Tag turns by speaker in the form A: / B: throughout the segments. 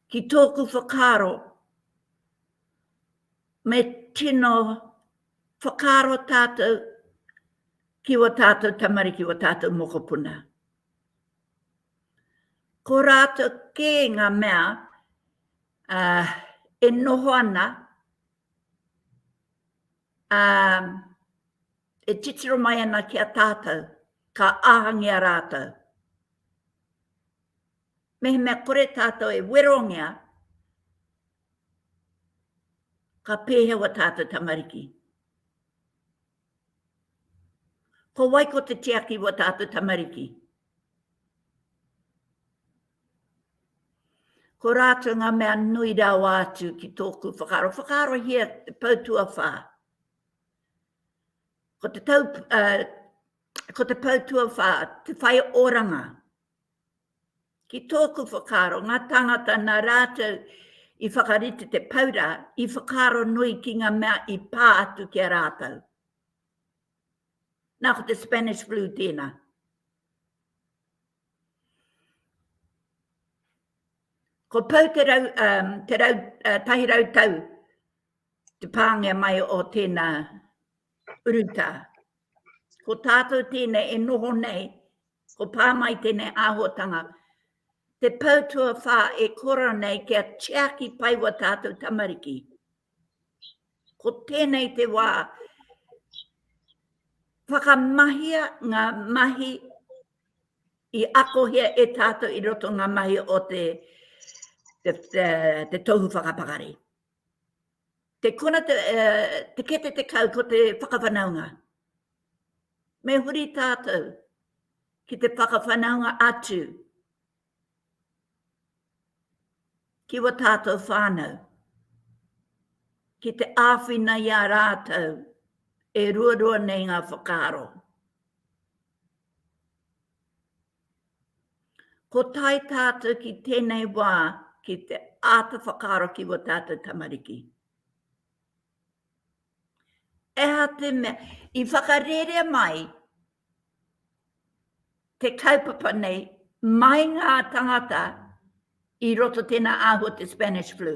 A: Ki tōku whakaaro, me tino whakaaro tātou ki wā tātou tamariki, wā tātou mokopuna. Ko rātou kē ngā mea e noho ana, ā, e titiro mai ana ki a tātou, ka āhangia rātou. Mehemea kore tātou e werongia, ka pēhea wā tātou tamariki. Ko wai ko te tiaki wā tātou tamariki? Ko rātou ngā mea nui rawa atu ki tōku whakaaro. Whakaarohia te pou tuawhā. Ko te tau, uh, ko te pou tuawhā, te whai oranga. Ki tōku whakaaro, ngā tāngata nā rātou i whakarite te paura, i whakaaro nui ki ngā mea i pā atu ki a rātou. Nā ko te Spanish flu tēnā. Ko Pou te rau, um, te rau, uh, tahi rau tau te pāngia mai o tēnā urutā. Ko tātou tēnei e noho nei, ko pā mai tēnei āhotanga, te pau tua whā e kora nei kia tiaki pai wa tātou tamariki. Ko tēnei te wā, whakamahia ngā mahi I akohia e tātou i roto ngā mahi o te, te, te, te tohu whakapakari. Te kona te, uh, te kete te kau ko te whakawhanaunga. Me huri tātou ki te whakawhanaunga atu ki wa tātou whānau, ki te āwhina i a rātou e ruarua nei ngā whakaaro. Ko tae tātou ki tēnei wā ki te āta whakaaro ki wa tātou tamariki. Eha te mea, i whakarerea mai te kaupapa nei mai ngā tangata i roto tēnā āhua te Spanish flu.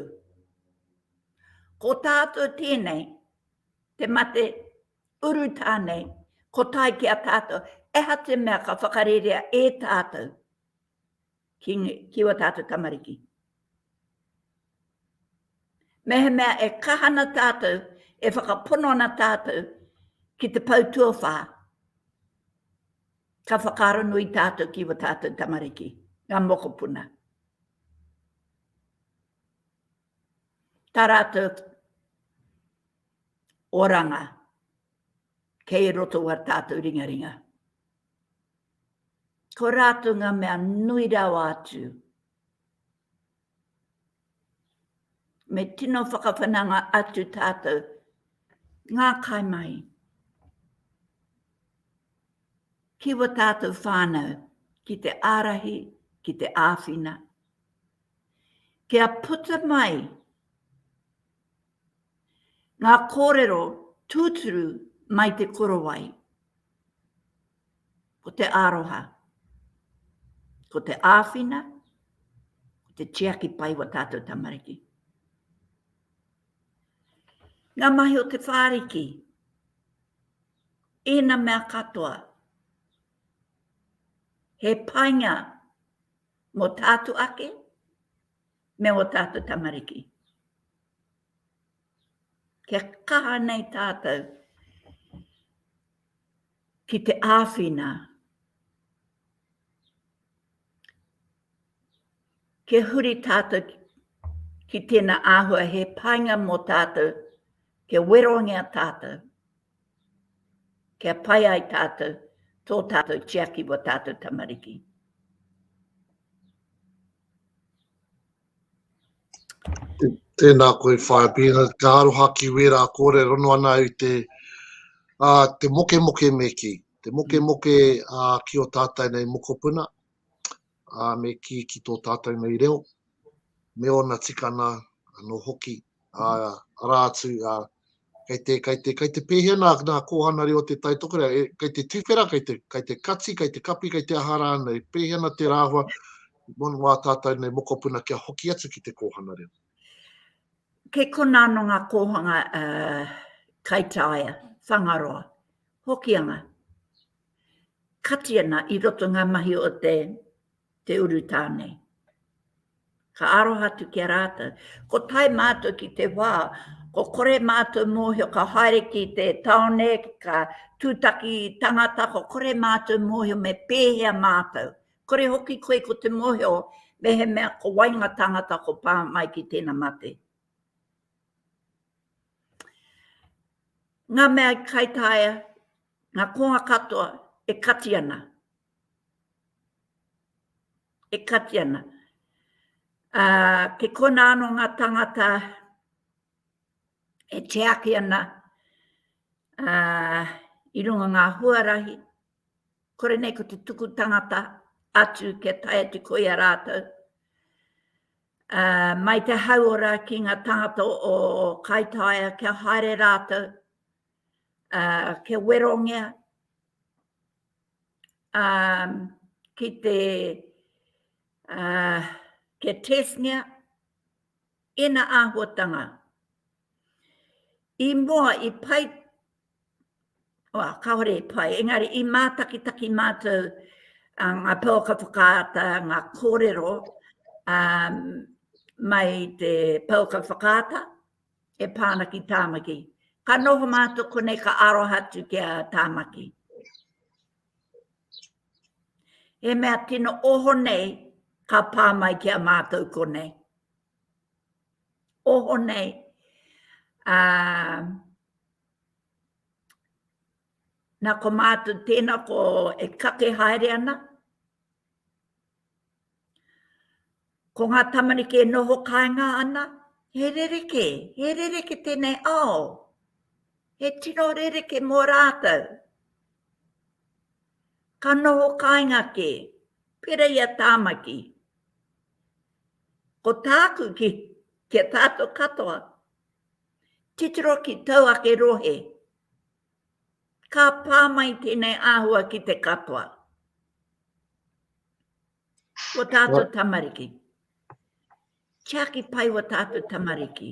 A: Ko tātou tēnei, te mate urutā nei, ko tai ki a tātou, eha te mea ka whakarerea e tātou. ki ua tātou tamariki. Mehemea e kaha ana tātou, e whakapono ana tātou ki te pau tuawhā, ka whakaaro nui tātou ki ua tātou tamariki, ngā mokopuna. Tā rātou oranga kei roto o ā tātou ringaringa. Ko rātou ngā mea nui rawa atu. Me tino whakawhananga atu tātou. Ngā kaimahi. Ki wa tātou whānau, ki te ārahi, ki te āwhina. Kia puta mai Ngā kōrero tūturu mai Te Korowai. Ko te aroha, ko te āwhina, ko te tiaki pai wa tātou tamariki. Ngā mahi o te whāriki, ēna mea katoa, he painga mō tātou ake, me ō tātou tamariki. Kia kaha nei tātou ki te āwhina, kia huri tātou ki tēnā āhua he painga mō tātou, kia werongia tātou, kia pai ai tātou, tō tātou tiaki wa tātou tamariki.
B: Tēnā koe whaea pīna, ka aroha ki wērā kōrero noa nā i te te mokemoke me kī, te mokemoke ki o tātou nei mokopuna, me kī ki tō tātou nei reo, me ōna tikana anō hoki. arā atu, kei te, kei te, kei te pēhea nā, nā kōhana reo te taitokerau, e, kei te tuwhera, kei te, kei te kati, kei te kapi, kei te aha rānei, pēhea ana te rāhua mō wā tātou nei mokopuna kia hoki atu ki te kōhana reo?
A: Kei konā nō ngā kōhanga uh, kaitaia, whangaroa, hokianga, kati ana i roto ngā mahi o te te urutā nei. Ka aroha atu ki a rātou. Ko tae mātou ki te wā, ko kore mātou mōhio ka haere ki te taone, ka tūtaki tangata, ko kore mātou mōhio me pēhea mātou. Kore hoki koe ko te mōhio mehemea ko wai ngā tāngata ko pā mai ki tēna mate. Ngā mea i kaitaia, ngā kōnga katoa e kati ana. e kati ana. Ā, kei konā anō ngā tāngata e tiaki ana ā, i runga ngā huarahi, kore nei ko te tuku tangata atu kia tae atu ko ia rātou. Ā, mai te hauora ki ngā tāngata o Kaitaia kia haere rātou, ā, kia werongia, um, ki te uh, kia tesngia ena āhuatanga. I mua, i pai, oa, kāore i pai, engari i mātakitaki mātou uh, ngā pōka whakaata, ngā kōrero um, mai te pōka whakaata, e pā ana ki Tāmaki. Ka noho mātou konei ka aroha atu ki a Tāmaki. He mea tino oho nei ka pā mai ki a mātou konei. Oho nei, uh, nā ko mātou tēnā ko e kake haere ana, Ko ngā tamariki e noho kāinga ana, he rerekē, he rerekē tēnei ao, he tino rerekē mō rātou. Ka noho kāinga kē, pera i a Tāmaki. Ko tāku ki, ki a tātou katoa, titiro ki tau ake rohe, ka pā mai tēnei āhua ki te katoa. Ko tātou tamariki. Tiaki pai wa tātou tamariki.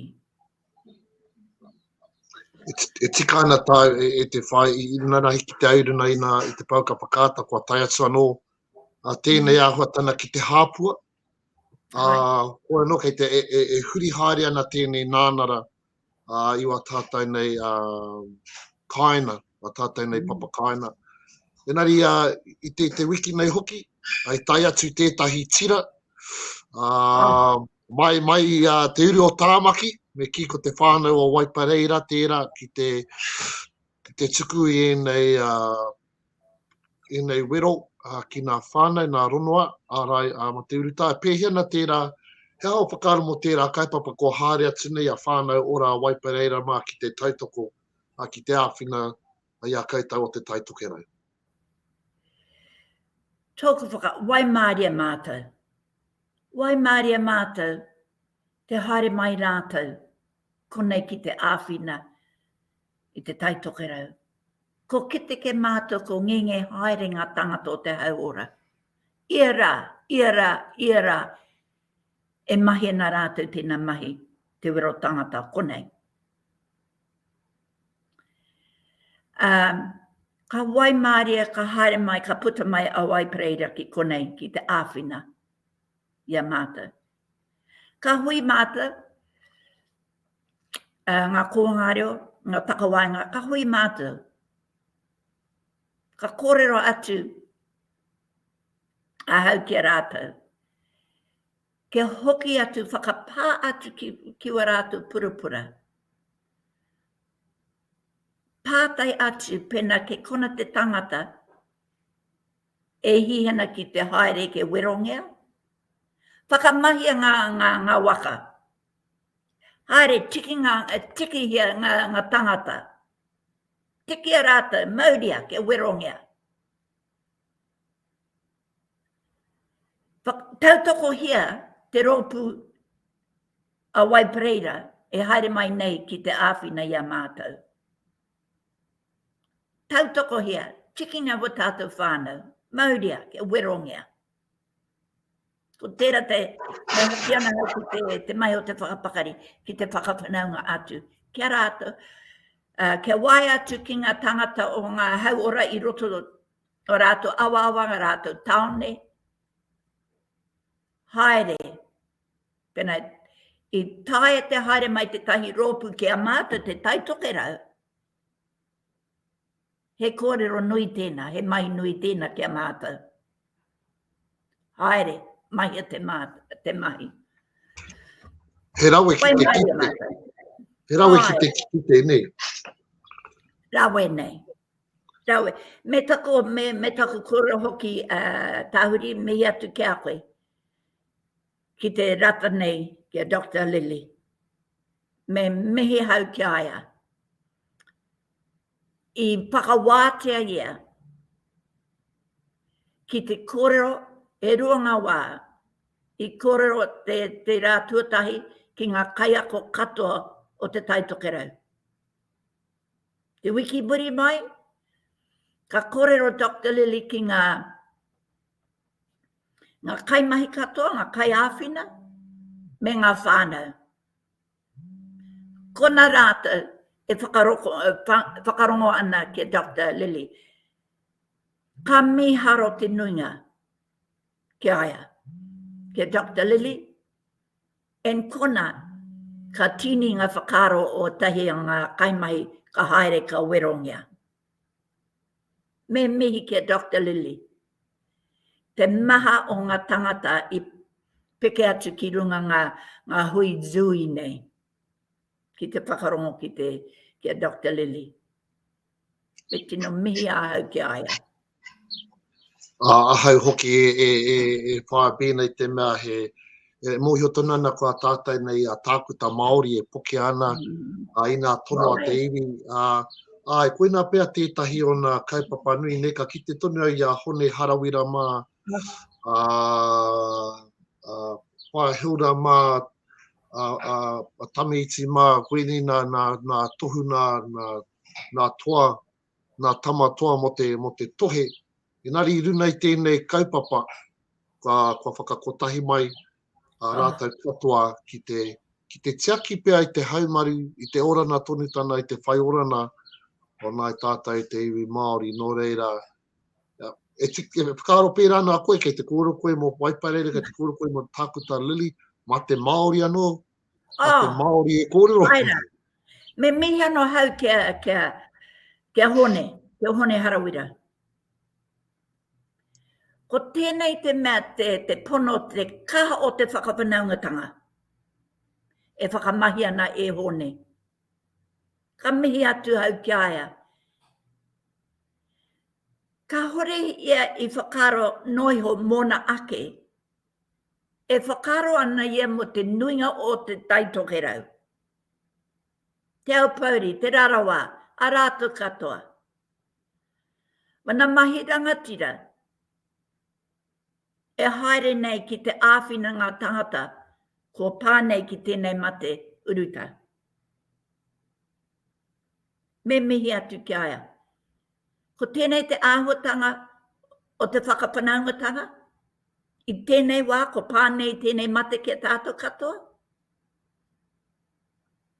B: E, e tika ana tā e, e te whai, i nana hiki te auru nei nā i te pau ka whakaata kua tai atu anō a tēnei mm. āhua tana ki te hāpua. A, kua anō kei te e, e, e huri haere ana tēnei nānara i wā tātou nei kāinga, wā tātou nei papa kāinga. Engari i te wiki nei hoki, i tae atu tētahi tira, mai, mai i te uru o Tāmaki, me kī ko te whānau o Waipareira tērā ki te tuku i ēnei ēnei wero ki ngā whānau, ngā rongoā, ārai a Mate Urutae. Pēhea ana tērā, he aha o whakaaro mō tērā kaupapa kua haere atu nei a Whānau Ora a Waipareira mā ki te tautoko, ki te āwhina i a koutou o Te Tai Tokerau? Tōku
A: whaka, waimārie mātou. Waimārie mātou, te haere mai rātou Konei ki te āwhina i te Tai Tokerau. Ko Keteke mātua ko Ngenge haere ngā tāngata o te hauora. Ia rā, ia rā, ia rā e mahi ana rātou tēnā mahi te wero tāngata konei. Ā, ka waimarie, ka haere mai, ka puta mai a Wai Pereira ki konei ki te āwhina i a mātou. Ka hui mātou, ngā kōhanga reo, ngā takawaenga, ka hui mātou, ka kōrero atu ahau ki a rātou, kia hoki atu, whakapā atu ki wā rātou purapura, pātai atu pēnā kei kona te tangata, E hī hena ki te haere ke werongea. Whakamahia nga nga nga waka. Haere tiki nga tikihia nga nga tangata. Tikia ratou mauria ke werongea. Whak tautokohia te ropu a Wai Pereira e haere mai nei ki te āwhina i a mātou. Tautokohia, tikinga ko tātou whānau, mauria, kia werongia. Ko tērā te, e hoki ana au ki te, te mai o te whakapakari, ki te whakawhanaunga atu, kia rātou, uh, kia wae atu ki ngā tangata o ngā hauora i roto o rātou awaawa, ngā rātou taone, Haere. Pena, i taea te haere mai tetahi roopu ki a matou te Tai Tokerau, he koorero nui teena, he mahi nui teena ki a matou. Haere, mahia te mahi.
B: He rawe ki te kite. He rawe ki te kite nei.
A: Rawe nei. Rawe, me taku, me, me taku kura hoki a uh, Tahuri, mihi atu ki a koe. Ki te rata nei, ki a Dr. Lily. Me mihi hau ki a ia. I whakawātea ia ki te kōrero e rua ngā wā, i kōrero te, te rā tuatahi ki ngā kaiako katoa o te taitokerau. Te wiki muri mai, ka kōrero Doctor Lilly ki ngā ngā kaimahi katoa, ngā kaiāwhina, me ngā whānau. Kona rātou e whakaroko, e whakarongo ana ki a Doctor Lilly. Ka mīharo te nuinga ki a ia, ki a Doctor Lilly, And kona, ka tini nga whakaaro o tahi a nga kaimahi ka haere ka werongia. Me mihi ki a Doctor Lilly, te maha o nga tangata i peke atu ki runga nga nga hui Zooey nei, ki te whakarongo ki te ki a Doctor Lilly. E tino mihi ahau ki a ia. A
B: ahau hoki e, e, e, e whae pēnei te mea he, e mōhio tonu ana ko a tātai nei a tākuta Māori e poke ana mm. a ina tono a te iwi. A, a e koina pea tētahi o nā kaupapa nui nei ka kite tonu au i a Hone Harawira mā, a, a Pae Hilda mā, a, a, a Tamiiti mā, koinei nā, nā, nā tohu nā, nā, nā toa, nā tama toa mō te, mō te tohe. Engari i runa i tēnei kaupapa, kua, kua whakakotahi mai a rātou katoa ki te, ki te tiaki pea i te haumaru, i te orana tonu tana, i te whai orana o nāi tātou i te iwi Māori. Nō reira, e, ti, e whakaaro pērā nā koe, kei te kōrero koe mō Waiparere, kei te kōrero koe mō Tākuta Lily, mā te Māori anō, a oh. te Māori e kōrero. Ai rā.
A: Me mihi anō hau kia, kia, kia hone, kia hone harawira. Ko tēnei te mea te, te pono, te kaha o te whakawhanaungatanga. E whakamahi ana e hone. Ka mihi atu hau ki aia. Ka hore ia i whakaro noiho mōna ake. E whakaaro ana ia mō te nuinga o Te Tai Tokerau, Te Aupōuri, Te Rarawa, arā atu katoa. Mana mahi rangatira e haere nei ki te āwhina ngā tāngata kua pā nei ki tēnei mate urutā. me mihi atu ki a ia. Ko tēnei te āhuatanga o te whakawhanaungatanga, i tēnei wā ko pā nei tēnei mate ki a tātou katoa.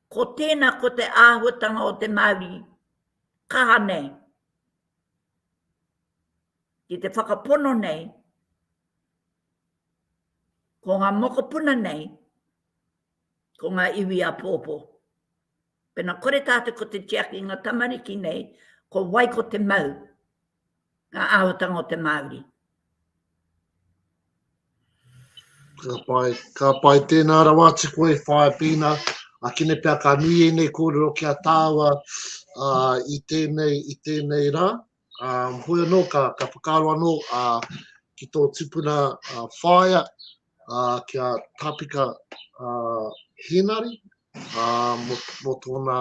A: Ko tēnā ko te āhuatanga o te Māori kaha nei, ki te whakapono nei, ko ngā mokopuna nei, ko ngā iwi a pōpō. Pena kore tatou ko te tiaki i nga tamariki nei, ko wai ko te mau nga ahotanga o te Maori.
B: Ka pai, ka pai. Tēnā rawa atu koe, whae pīna. A kine pea ka nui ēnei kōrero ki a tāua uh, i, tēnei, i tēnei rā. Hoi anō ka whakaaro anō ki tō tupuna whaea ki a Tāpika Hēnari mō tōna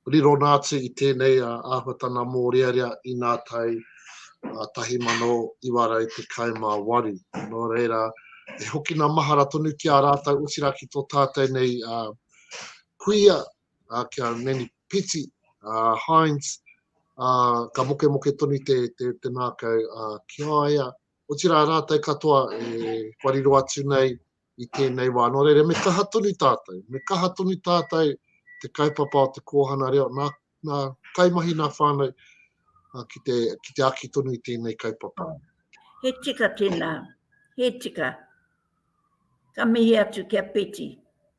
B: rirona atu i tēnei āhuatanga mōrearea i ngā tau 1918. Nō reira, e hokina mahara tonu ki a rātou, otirā ki tō tātou nei kuia ā, ki a Manny Piti, ā, Hynes, ā, ka mokemoke tonu te, te, te ngākau ā, ki a ia, otirā rātou katoa e wariro atu nei i tēnei wā. Nō reira, me kaha tonu tātou, me kaha tonu tātou te kaupapa o te kōhana reo, nā, nā kaimahi, nā whānau, ā, ki, te, ki te aki tonu i tēnei kaupapa. He tika
A: tēnā, he tika. Ka mihi atu ki a Peti.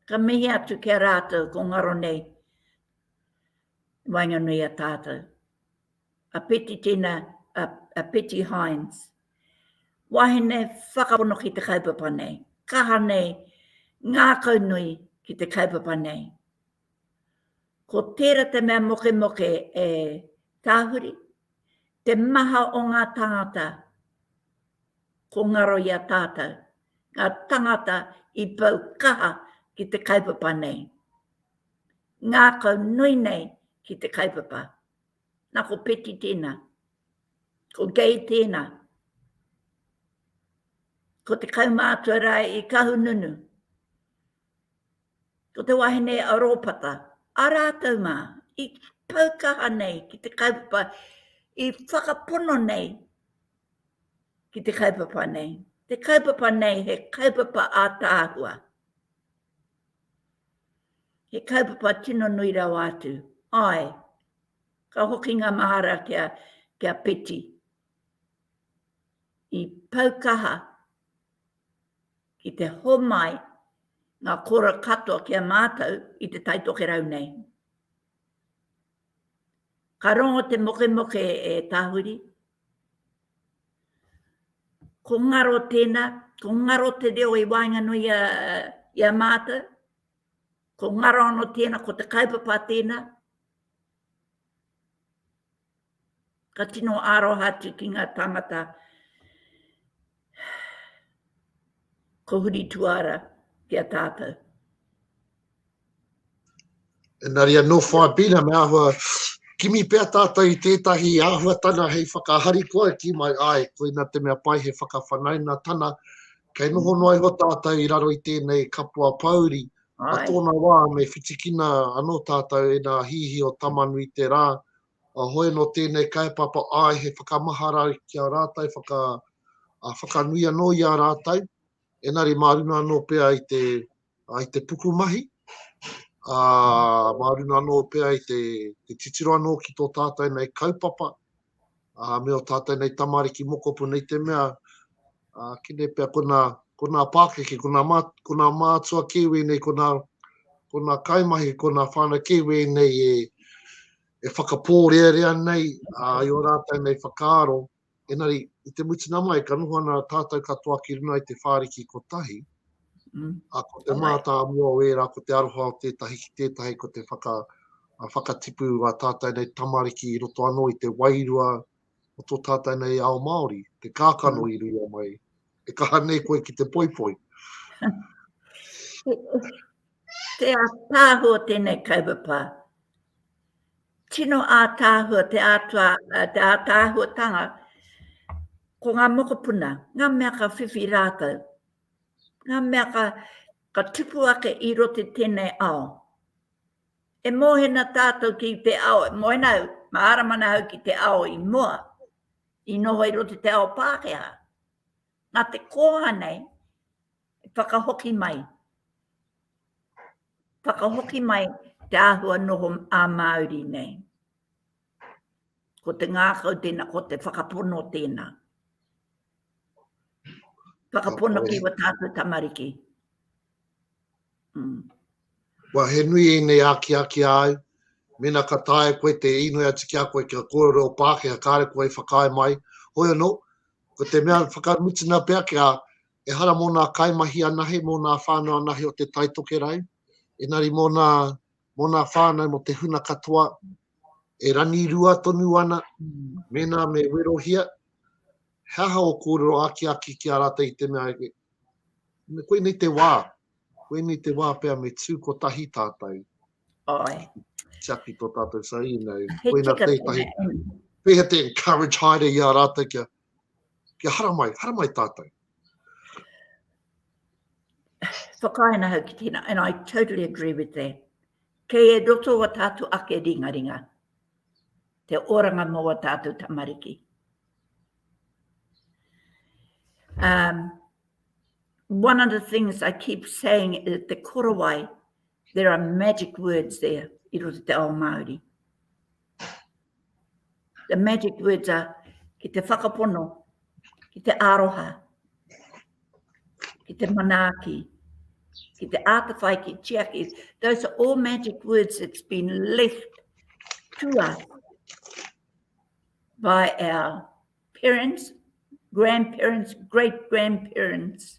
A: Ka mihi atu ki a rātou ko ngaro nei i waenganui i a tātou. A Peti tēnā, a, a Peti Hynes. Wahine whakapono ki te kaupapa nei. Kaha nei, ngākau nui ki te kaupapa nei. Ko tērā te mea mokemoke e tahuri, te maha o ngā tāngata ko ngaro i a tātou, ngā tāngata i pau kaha ki te kaupapa nei. Ngākau nui nei ki te kaupapa. Nā ko Peti tēnā, ko Gay tēnā, ko te kaumātua rā i Kahununu, Ko te wahine a Rōpata, a rātou mā, i pau kaha nei ki te kaupapa, i whakapono nei ki te kaupapa nei. Te kaupapa nei he kaupapa ātaahua. He kaupapa tino nui rawa atu. Ai, ka hoki ngā mahara kia, kia peti. I pau kaha ki te homai ngā kora katoa ki a mātou i te Tai Tokerau nei. Ka rongo te mokemoke e Tahuri. Ko ngaro tēnā, ko ngaro te reo i waenganui i a, i a mātou. Ko ngaro anō tēnā, ko te kaupapa tēnā. Ka tino aroha atu ki ngā tāngata ko Huri Tuara ki a tātou.
B: Engari anō whaipina me ahua kimi pea tātou i tētahi āhuatanga hei whakaharikoa e kī mai, āe, koina te mea pai he whakawhanaungatana, kei noho noa iho tātou i raro i tēnei kapua pōuri, I tōna wā, me whitikina anō tātou e nā hīhī o Tamanui te rā, a hoe nō tēnei kaupapa āe he whakamahara ki a rātou, whaka, a, whakanui anō i a rātou, enari mā runa anō pea i te, a, i te pukumahi, a, mā runa anō pea i te, te titiro anō ki tō tātou nei kaupapa, ā, me ō tātou nei tamariki mokopuna i te mea, ā, kene pea ko nā, ko nā pākeke, ko nā mā, ko nā mātua Kiwi nei, ko nā, ko nā kaimahi, ko nā whānau Kiwi nei e, e whakapōrearea nei, ā, i ō rātou nei whakaaro, engari, i te mutunga mai, ka noho ana tātou katoa ki runga i te whāriki kotahi, A ko te mātāmua o ērā, ko te aroha o tētahi ki tētahi, ko te whaka, whakatipu a tātou nei tamariki i roto anō i te wairua o tō tātou nei ao Māori, te kākano i rua mai, e kaha nei koe ki te poipoi.
A: Te ātāhua tēnei kaupapa. Tino ātāhua te ātua, te ātāhuatanga ko ngā mokopuna, ngā mea ka whiwhi rātou. Ngā mea ka, ka tupu ake i roto i tēnei ao. E mōhena tātou ki te ao, e mōhena au, mārama ana au ki te ao i mua, i noho i roto i te ao Pākehā. Nā te koha nei, e whakahoki mai, whakahoki mai te āhua noho ā-Māori nei. Ko te ngākau tēnā, ko te whakapono tēnā. Whakapono ki wa tātou tamariki. Mm.
B: Wa he nui e nei aki aki ai, mena ka tae koe te inoi atu ki a koe ki a kōrero o Pākehā, kāre koe i whakaae mai. Hoi anō, ko te mea whakamutina pea ki a e hara mō nā kaimahi anahe, mō nā whānau anahe o te Taitokerau, enari mō nā mō nā whānau, mō te huna katoa, e ranirua tonu ana, mēnā me werohia, he aha o kōrero akiaki ki a rātou i te mea, koinei te wā, koinei te wā pea me tū kotahi tātou. Oi.
A: Tiaki tō
B: tātou sa i nei. Koina tētahi. Pēhea
A: te encourage
B: haere i a rātou kia Kia haramai, haramai tātou.
A: Whakaena hau ki tēnā, and I totally agree with that. Kei e roto wa tātou ake ringa ringa, te oranga mō wa tātou tamariki. Um, one of the things I keep saying is the korowai, there are magic words there, i roto te ao Māori. The magic words are ki te whakapono, ki te aroha, ki te manaaki, ki te atawhai, ki tiaki. Those are all magic words that's been left to us by our parents, grandparents, great grandparents.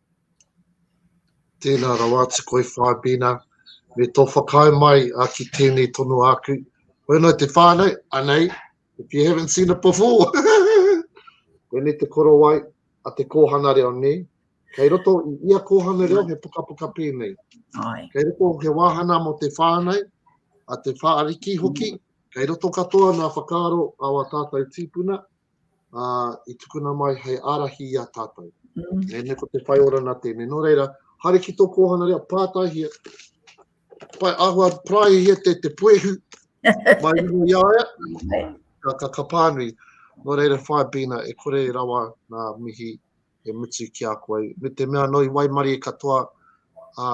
B: Tēnā rawa atu koe Whaibina, me tō whakaae mai ki tēnei tono āku. Koe nō te whānau, anei, if you haven't seen it before. Koinei te korowai a te kōhanga reo, nē? Kei roto i ia kōhanga reo he pukapuka pēnei. Ai. Kei roto
A: he wāhana
B: mō te whānau, a te whāriki hoki, kei roto katoa nā whakaaro a wā tātou tīpuna, i tukuna mai hei ārahi i a tātou. Nē, ko te whai orana tēnei. Nō reira, haere ki tō kōhanga reo, pātaihia, pai ahua, praihia te, te puehu, mai rungu i aia, ka, ka, ka pānui. Nō reira, whae bina, e kore rawa nā mihi e mutu ki a koe. Me te mea noi waimari e katoa, a,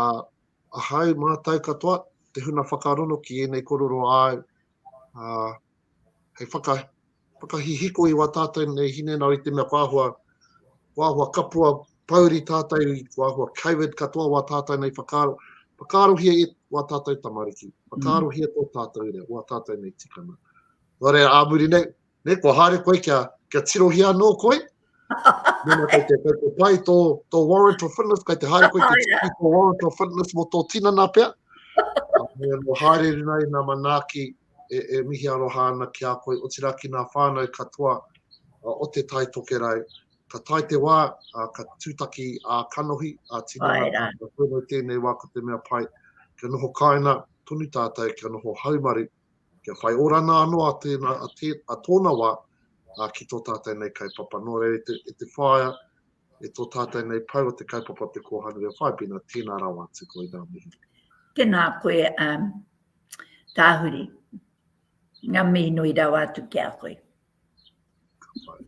B: a hau mātou katoa, te huna whakarono ki ēnei kororo āu, a, hei whaka, whakahihiko i wā tātou nei hinengaro i te mea ko āhua, ko āhua kapua pouri tātou, ko āhua Covid katoa wā tātou nei whakaaro, whakaarohia e wā tātou tamariki, whakaarohia tō tātou rea, wā tātou nei tikanga. Nō reira, ā muri nei, ne, kua haere koe kia, kia tirohia anō koe, Mēnā kei te, kei te pai tō, tō warrant of fitness, kei te haere koe te tiki tō warrant of fitness mō tō tinana pia. Me anō haere rina i nā manaaki e, e mihi aroha ana ki a koe, otirā ki nā whānau katoa uh, o te Tai Tokerau. Ka tai te wā, uh, ka tūtaki a uh, kanohi, a uh, tinana, ka whenau tēnei wā ko te mea pai. Ka noho kāina tonu tātou, ka noho haumaru, kia whai oranga anō a tēnā, a tē, a tōna wā, ā, ki tō tātou nei kaupapa. Nō reira, e te, e te whaea, e tō tātou nei pau o te kaupapa o te kōhanga reo whaipena, tēnā rawa atu koe ngā mihi. Tēnā koe,
A: um, tāhuri. Ngā mihi nui rawa atu ki a koe. Ka pai.